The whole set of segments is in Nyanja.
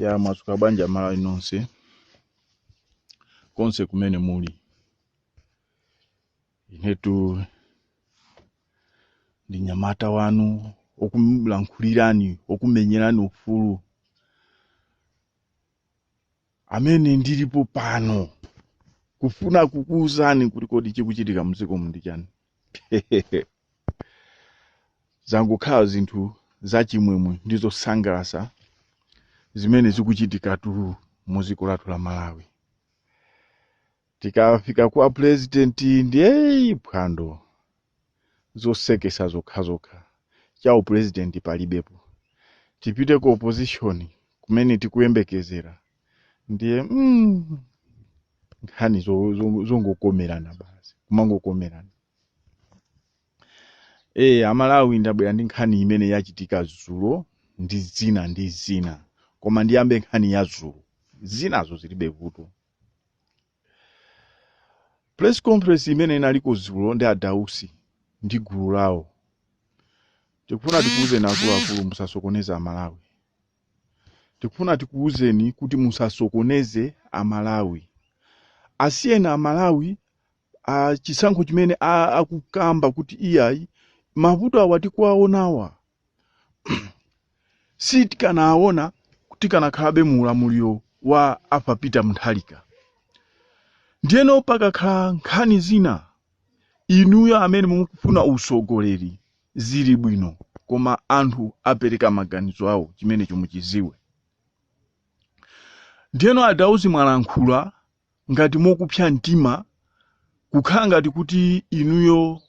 Ya mwazuka bwanji amalawi nonse konse kumene muli inetu ndi mnyamata wanu okulankhulirani okumenyerani ufulu amene ndilipo pano kufuna kukuwuzani kuti kodi chikuchitika mdziko muno ndi chani zangokhala zinthu zachimwemwe ndi zosangalatsa zimene zikuchitikatu mu dziko lathu la malawi tikafika kwa pulezidenti ndiye phwando zosekesa zokhazokha cha upulezidenti palibepo tipite ku opposition kumene tikuyembekezera ndiye mm, nkhani zo- zo- zongokomerana basi kumangokomerana e amalawi ndabwera ndi nkhani imene yachitika zulo ndi zina ndi zina koma ndiyambe nkhani ya zulo zinazo zilibe vuto press conference imene inaliko zulo ndi adausi ndi gulu lawo tikufuna tikuwuzeni akuluakulu musasokoneze amalawi Tikufuna tikuuzeni kuti musasokoneze a Malawi. Asiyeni a Malawi a chisankho chimene a, akukamba kuti iyayi mavuto awa tikuwaonawa sitikanawaona tikanakhalabe mu ulamuliro wa Arthur Peter Mutharika. Ndiyeno pakakhala nkhani zina inuyo amene mukufuna usogoleri zili bwino koma anthu apereka maganizo awo chimenecho muchiziwe ndiyeno adausi mwalankhula ngati mokupsa mtima kukhala ngati kuti inuyo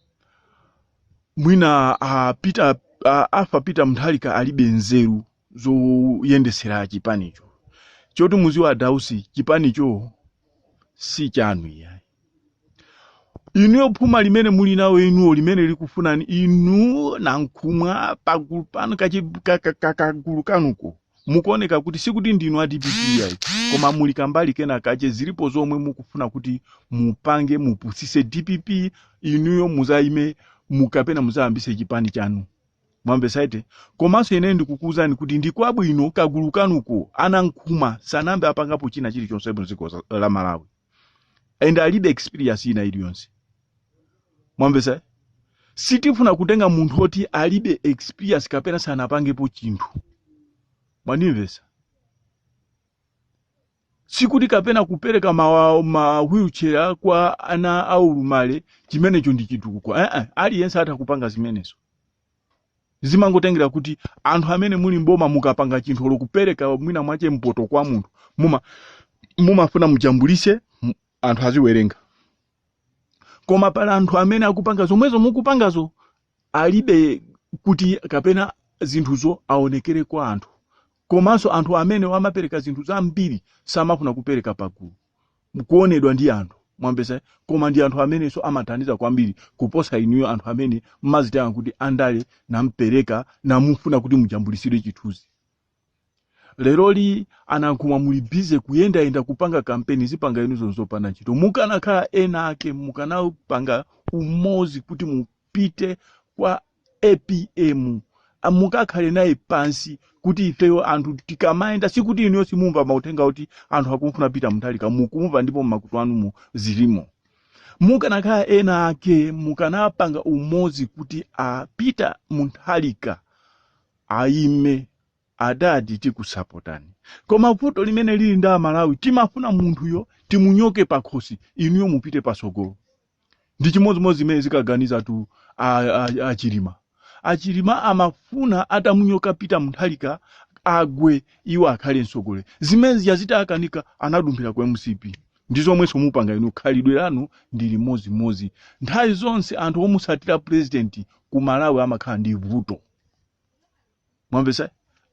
mwina a peter a, arthur peter mutharika alibe nzeru zoyendetsera chipanicho choti muziwe adausi chipanicho si chanu iyayi inuyo phuma limene muli nawo inuyo limene likufunani inu nankhumwa pagulu panu kachi- ka- ka- ka- kagulu kanuko mukuoneka kuti sikuti ndinu a dpp iyayi koma muli kambali kena kache zilipo zomwe mukufuna kuti mupange mupusise dpp inuyo muzayime kapena muzayambise chipani chanu mwamvetsa eti komanso ine ndikukuwuzani kuti ndi kwabwino kagulu kanuko a nankhumwa sanambe apangapo china chilichonse mdziko za- la malawi and alibe experience ina iliyonse mwamvetsa sitifuna kutenga munthu oti alibe experience kapena sanapangepo chinthu mwandimvetsa Sikuti kapena kupereka ma, ma wheelchair kwa ana aulumali chimenecho ndi chitukuko eh, eh, aliyense atha kupanga zimenezo zimangotengera kuti anthu amene muli mboma mukapanga chinthu olo kupereka mwina mwache mpoto kwa munthu muma mumafuna mujambulise m- anthu aziwerenga koma pali anthu amene akupanga zomwezo mukupangazo alibe kuti kapena zinthuzo aonekere kwa anthu Komanso anthu amenewa amapereka zinthu zambiri, samafuna kupereka pagulu, kuonedwa ndi anthu, mwamvetsa eh? Koma ndi anthu amenenso amathandiza kwambiri kuposa inuyo anthu amene mmazitenga kuti andale nampereka namufuna kuti mujambulitsire chithunzi. Leroli a Nankhumwa muli busy kuyendayenda kupanga kampeni zipanga inuzo nzopanda ntchito. Mukanakhala ena ake mukanapanga umodzi kuti mupite kwa APM mukakhale naye pansi kuti ifeyo anthu tikamayenda sikuti inuyo simumva mauthenga oti anthu akumfuna Peter Mutharika mukumva ndipo mmakutu anumo zilimo mukanakhala ena ake mukanapanga umodzi kuti a Peter Mutharika ayime adadi tikusapotani koma vuto limene lili ndi aMalawi timafuna munthuyo timunyoke pakhosi inuyo mupite pasogolo ndi chimodzimodzi zimene zikaganizatu a, a, a Chilima a Chilima amafuna atamunyoka Peter Mutharika agwe iwo akhale mtsogoleri zimene zija zitakanika anadumphira ku MCP ndi zomwenso mukupanga inu khalidwe lanu ndi limodzimodzi nthawi zonse anthu omutsatira purezidenti ku Malawi amakhala ndi vuto mwamvetsa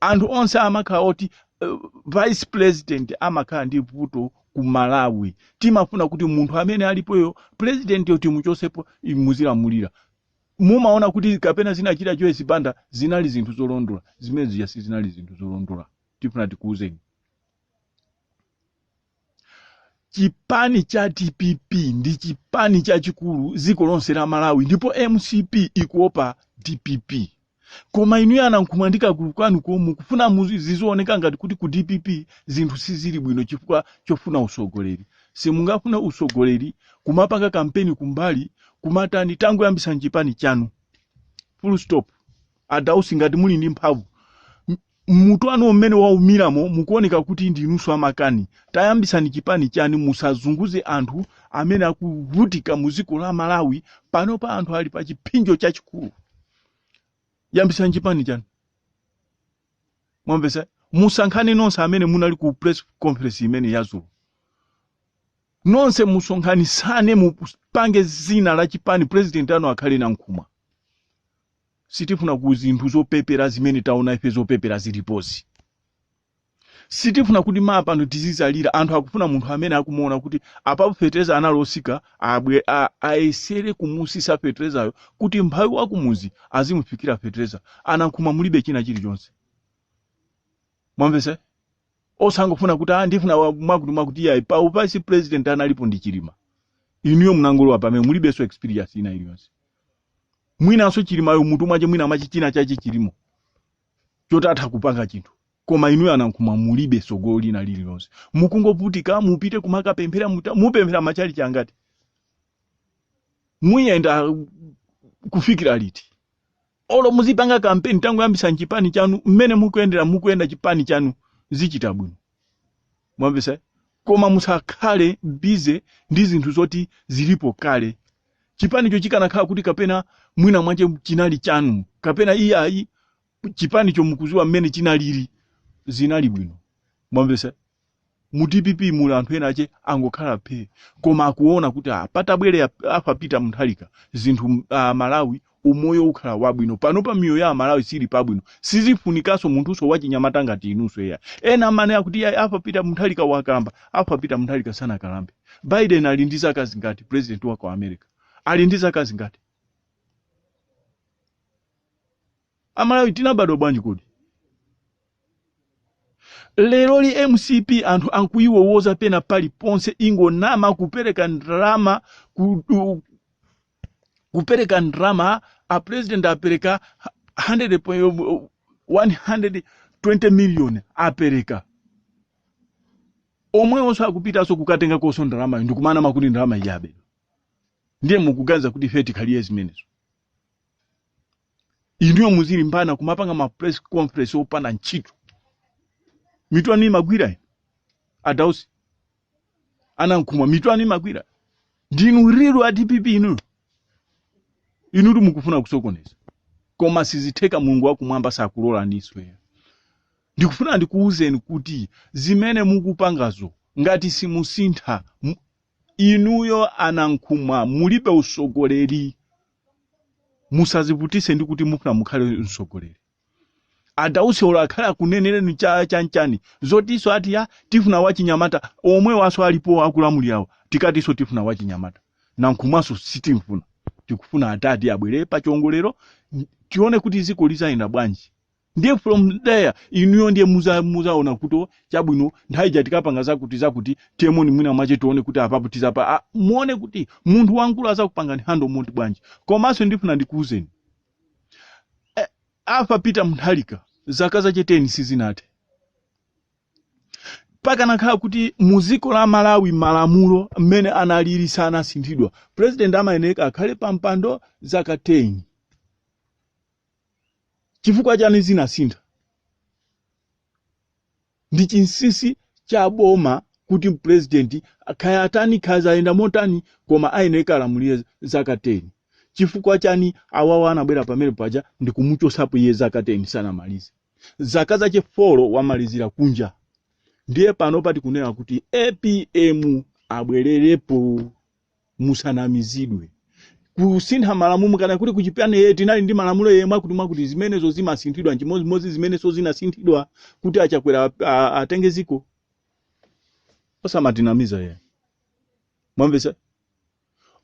anthu onse amakhala oti uh, vice president amakhala ndi vuto ku Malawi timafuna kuti munthu amene alipoyo president yo timuchosepo muzilamulira mumaona kuti kapena zinachita Joyce Banda zinali zinthu zolondola zimene zija sizinali zinthu zolondola tifuna tikuuzeni chipani cha DPP ndi chipani chachikulu dziko lonse la Malawi ndipo MCP ikuopa DPP koma inuyo a Nankhumwa ndi kagulu kanu komwe mukufuna muzi- zizioneka ngati kuti ku DPP zinthu sizili bwino chifukwa chofuna usogoleri simungafune usogoleri kumapanga kampeni kumbali kumatani tangoyambisani chipani chanu full stop a Dausi ngati muli ndi mphamvu M'mutu wanu umene waumiramo mukuoneka kuti ndinunso amakani. Tayambitsani chipani chanu musazunguze anthu amene akuvutika mu dziko la Malawi panopa anthu ali pa chipsinjo chachikulu. Yambitsani chipani chanu. Mwamvetsa? Musankhane nonse amene munali ku press conference imene yazulu. Nonse musonkhanisane mupange zina la chipani president anu akhale Nankhumwa. Sitifuna ku zinthu zopepera zimene taona ife zopepera zilipozi. Sitifuna kuti ma pano tizidzalira anthu akufuna munthu amene akumuona kuti apapo fetereza anali osika abwe a- ayesere kumusisa feterezayo kuti mphawi wa kumuzi azimufikira fetereza anankhumwa mulibe china chilichonse mwamvesa osangofuna kuti ah, ndifuna wa- mwakuti mwakuti iyayi pa uvice president analipo ndi chilima inuyo munangolowa pamene mulibenso experience ina iliyonse mwinanso chilimayo mutu mwache mwina mwache china chache chilimo choti atha kupanga chinthu koma inuyo anankhumwa mulibe sogolo lina lililonse mukungovutika mupite kumakapemphera muta- mupemphera machalichi angati muyenda uh, kufikira liti olo muzipanga kampeni tangoyambisani chipani chanu mmene mukuyendera mukuyenda chipani chanu zichita bwino mwamvesa koma musakhale busy ndi zinthu zoti zilipo kale chipanicho chikanakhala kuti kapena mwina mwache chinali chanu kapena iyayi chipanicho mukuziwa mmene chinalili zinali bwino mwamvesa mu dpp muli anthu ena ache angokhala phe koma akuona kuti ah, patabwere arthur peter mutharika zinthu ah, malawi umoyo ukhala wabwino panopa miyoyo ya amalawi sili pabwino sizifunikanso munthunso wachinyamata ngati inunso eya ena amene akuti iyayi arthur peter mutharika wakalamba arthur peter mutharika sanakalambe biden ali ndi zaka zingati president wa ku america ali ndi zaka zingati amalawi tinabadwa bwanji kodi leroli mcp anthu akuyiwowoza pena paliponse ingonama kupereka ndalama ku, u- kupereka ndalama a president apereka 100 po- yo- bo- 120 million apereka omwewonso akupitanso kukatengakonso ndalamayo ndikumanama kuti ndalama yabedwa ndiye mukuganiza kuti ife tikhalire zimenezo inuyo muzilimbana kumapanga ma press conference opanda ntchito mitu anu imagwira adausi anankhumwa mitu anu imagwira ndinu real a dpp inu inutu mukufuna kusokoneza koma sizitheka mulungu wakumwamba sakulolani swear ndikufuna ndikuwuzeni kuti zimene mukupangazo ngati simusintha mu- inuyo anankhumwa mulibe usogoleri musazivutise ndi kuti mufuna mukhale msogoleri adausi olo akhale akunenereni cha chanichani zotiso ati ya tifuna wachinyamata omwewaso alipo akulamulirawo tikatiso tifuna wachinyamata nankhumwaso sitimfuna tikufuna adadi abwere pa chiongolero n- tione kuti ziko lizayenda bwanji ndiye from there inuyo ndiye muza- muzaona kuti chabwino nthawi ija tikapanga zakuti zakuti temoni mwina mwache tione kuti apapo tizapa ah, muone kuti munthu wamkulu azakupangani hando monti bwanji komanso ndifuna ndikuuzeni Eh, a Peter Mutharika zaka zache 10 sizinathe pakanakhala kuti mu dziko la malawi malamulo mmene analili sanasinthidwa president amayenera akhale pa mpando zaka 10 chifukwa chani zinasintha Ndi chinsisi cha boma kuti mupulezidenti kaya atani kaya zayenda motani koma ayenera alamulire zaka 10. Chifukwa chani awawa anabwera pamene paja ndikumuchosapo iye zaka 10 sanamalize. Zaka zache 4 wamalizira kunja. Ndiye panopa tikunena kuti apm abwererepo. musanamizidwe kusintha malamulo kaya kuti kuchipani yeye tinali ndi malamulo yeye mwakuti mwakuti zimenezo zimasinthidwa chimodzimodzi zimenezo zinasinthidwa kuti achakwera a- a- atenge ziko osamatinamiza yeye mwamvesa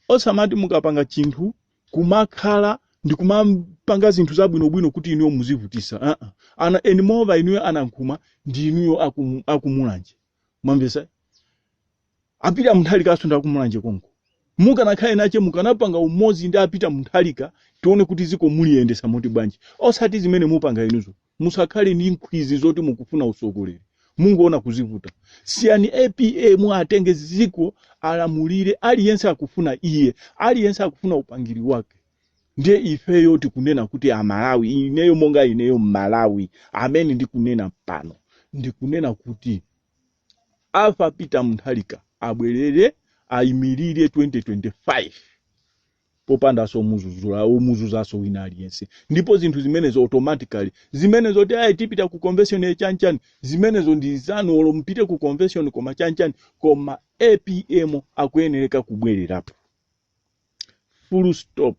osamati mukapanga chinthu kumakhala ndi kumapanga zinthu zabwinobwino kuti inuyo muzivutisa uh -uh. ana anyway moreover inuyo a Nankhumwa ndi inuyo akum, akumulanje mwamvesa A Peter Mutharikaso ndi akumulanje konko mukanakhala enache mukanapanga umozi ndi a Peter Mutharika tione kuti ziko muliyendesa moti bwanji osati zimene mupanga inuzo musakhale ndi nkhwizi zoti mukufuna usogoleri mungoona kuzivuta siyani apm atenge ziko alamulire aliyense akufuna iye aliyense akufuna upangiri wake ndiye ifeyo tikunena kuti amalawi ineyo monga ineyo mmalawi amene ndikunena pano ndikunena kuti A Peter Mutharika abwelele ayimilire 2025 popandaso omuzuza omuzuzaso wina aliyense ndipo zinthu zimenezo automatically zimenezo zoti ayi tipita ku convention ya chanichani zimenezo ndi zanu olo mupite ku convention koma chanichani koma apm akuyenereka kubwelerapo full stop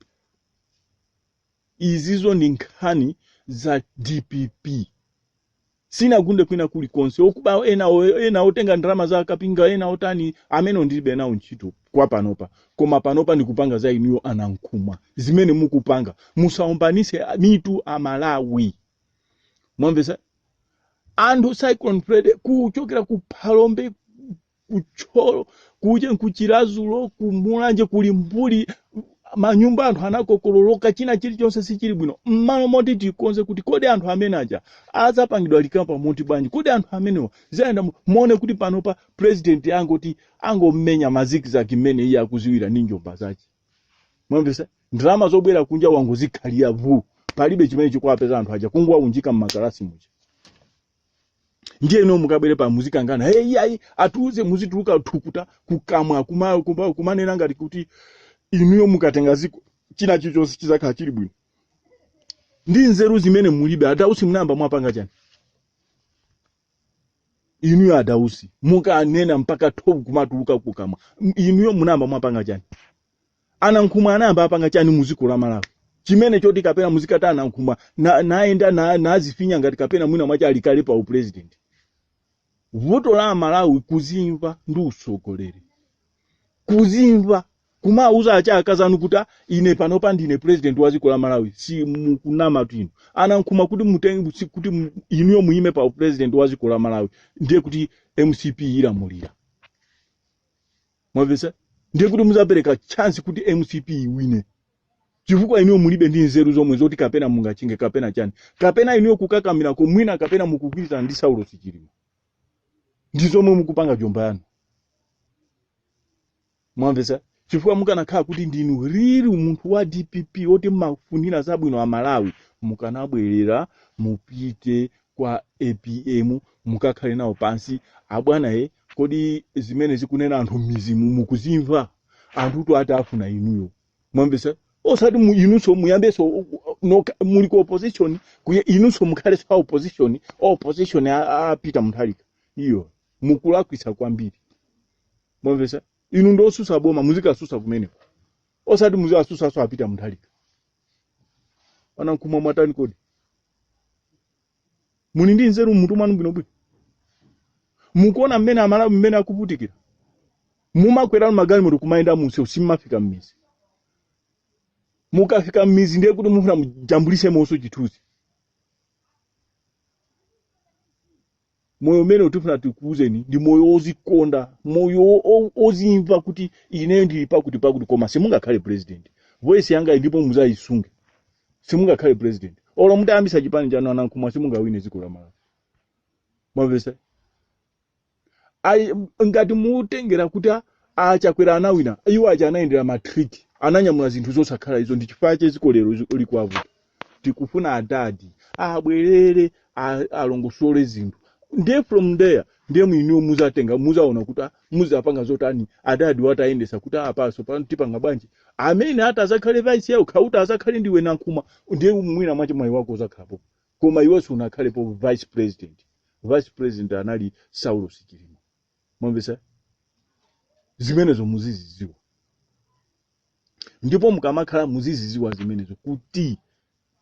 izizo ndi nkhani za dpp sinagunde kwina kuli konse okuba ena ena otenga ndalama za kapinga ena otani amene ndilibe nawo ntchito kwa panopa koma panopa ndikupanga za inuyo a Nankhumwa zimene mukupanga musaombanise mitu amalawi mwamvesa anthu cyclone freddy kuchokera ku phalombe ku Thyolo kuja ku Chiradzulu kumulanje kuli mbuli manyumba anthu anakokololoka china chilichonse sichili bwino mmalo moti tikonze kuti kodi anthu amene aja adzapangidwa recover moti bwanji kodi anthu amenewa zayenda mu- muone kuti panopa president angoti angomenya mazikizaki mmene iye akuziwira ndi mjomba zace mwamvesa ndalama zobwera kunja wangozikhalira vu palibe chimene chikuwapeza anthu aja kungowaunjika mmakalasi muja ndiye inu mukabwere pa muzikangana hey, iyayi atiuze muzituluka thukuta kukamwa kuma- kuma- kumanena ngati kuti inuyo mukatenga ziko china chilichonse chizakhala chili bwino ndi nzeru zimene mulibe adausi munayamba mwapanga chani inuyo adausi mukunena mpaka thovu kumatuluka kukamwa M- inuyo munayamba mwapanga chani a Nankhumwa anayamba apanga chani mu dziko la malawi chimene choti kapena muzikati a Nankhumwa na- nayenda na- nazifinya ngati kapena mwina mwache ali kale pa upresident vuto la amalawi kuzimva ndi utsogoleri kuzimva kumauza achaakazi anu kuti "Ah, ine panopa ndine president wa dziko la malawi si mukunamatu inu a Nankhumwa kuti mutenge si- kuti mu- inuyo muyime pa upresident wa dziko la malawi ndiye kuti mcp ilamulira mwamvetsa ndiye kuti muzapereka chance kuti mcp iwine chifukwa inuyo mulibe ndi nzeru zomwe zoti kapena mungachinge kapena chani kapena inuyo kukakamira komwina kapena mukugwirizana ndi Saulos Chilima ndi zomwe mukupanga jomba yanu mwamvetsa chifukwa mukanakhala kuti ndinudi munthu wa dpp oti mmafunira zabwino a malawi mukanabwerera mupite kwa apm mukakhale nawo pansi abwana e kodi zimene akunena anthu mmizimu mukuzimva anthutu akufuna inuyo mwamvesa osati mu- inunso muyambenso u- u- noka- muli ku opposition kuye inunso mukhalenso a opposition a opposition a- a Peter Mutharika ayi mukulakwisa kwambiri mwamvesa inu ndi osusa boma muzikasusa kumeneko osati muzikasusaso a Peter Mutharika a Nankhumwa mwatani kodi muli ndi nzeru mmutu mwanu bwinobwino mukuona mmene amalawi mmene akuvutikira mumakwera inu magalimoto kumayenda munsewu simmafika mmizi mukafika mmizi ndiye kuti mufuna mujambulisemoso chithunzi moyo umene tifuna tikuuzeni ndi moyo wozikonda moyo wo- wo- wozimva kuti ineyo ndili pakuti pakuti koma simungakhale president voice yanga iyi ndipo muzayisunge simungakhale president olo mutayambisa chipani chanu a Nankhumwa simungawine dziko la malawi mwamvesa Ai- ngati mutengera kuti a- a Chakwera anawina iwo aja anayendera matriki ananyamula zinthu zosakhala izo ndi chifukwa chake dziko lero zi- likuwavuta tikufuna adadi abwerere a- alongosole zinthu ndiye from there ndiye mwiniwo azatenga azaona kuti ah, azapanga zotani adadi atayendesa kuti apa sopano tipanga bwanji amene ati azakhale vice yao kaya uti azakhale ndiwe Nankhumwa ndiye mwina mwache mwayi wako uzakhalapo koma iwenso sunakhalepo vice president vice president anali Saulos Chilima mwamvesa zimenezo muzizidziwa ndipo mukamakhala muziziziwa zimenezo kuti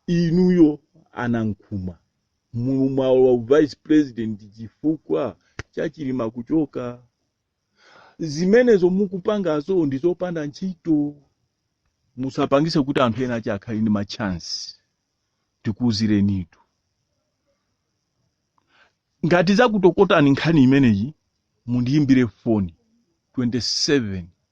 inuyo a Nankhumwa mumalowa vice president chifukwa cha Chilima kuchoka zimenezo mukupangazo ndizopanda ntchito musapangise kuti anthu ena ache akhale ndi machansi tikuuzirenitu ngati zakutokotani nkhani imeneyi mundiyimbire foni 27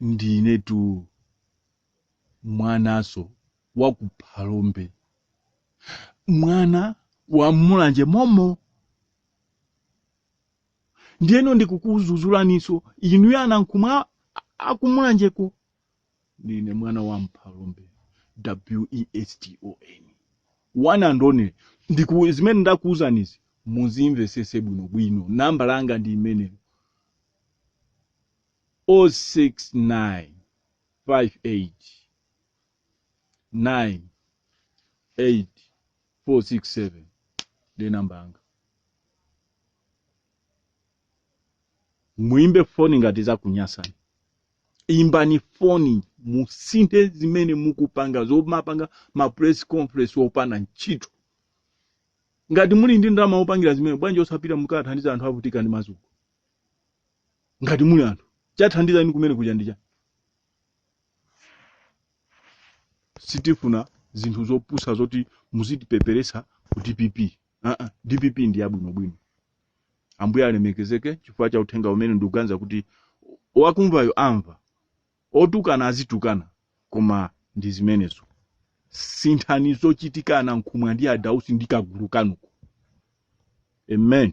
ndinetu mwananso wa ku Phalombe mwana wa m'Mulanje momo ndiyeno ndikukudzudzulaninso inuyo a Nankhumwa aku Mulanjeko ndine mwana wa m'Phalombe Weston one and only zimene ndakuwuzanizi muzimvesese bwinobwino nambala yanga ndi imeneyo 06958988467 ndi namba yanga muimbe foni ngati zakunyasani imbani foni musinthe zimene mukupanga zomapanga ma press conference opanda ntchito ngati muli ndi ndalama zopangira zimenezo bwanji osapita mukathandize anthu avutika ndi madzuko ngati muli anthu kathandizeni kumene kuja ndija sitifuna zinthu zopusa zoti muzitipeperesa ku dpp uh -uh. dpp ndi yabwinobwino ambuye alemekezeke chifukwa cha uthenga umene ndikuganiza kuti wakumvayo amva otukana azitukana koma ndi zimenezo sinthani zochitika a Nankhumwa ndi a Dausi ndi kagulu kanuko amen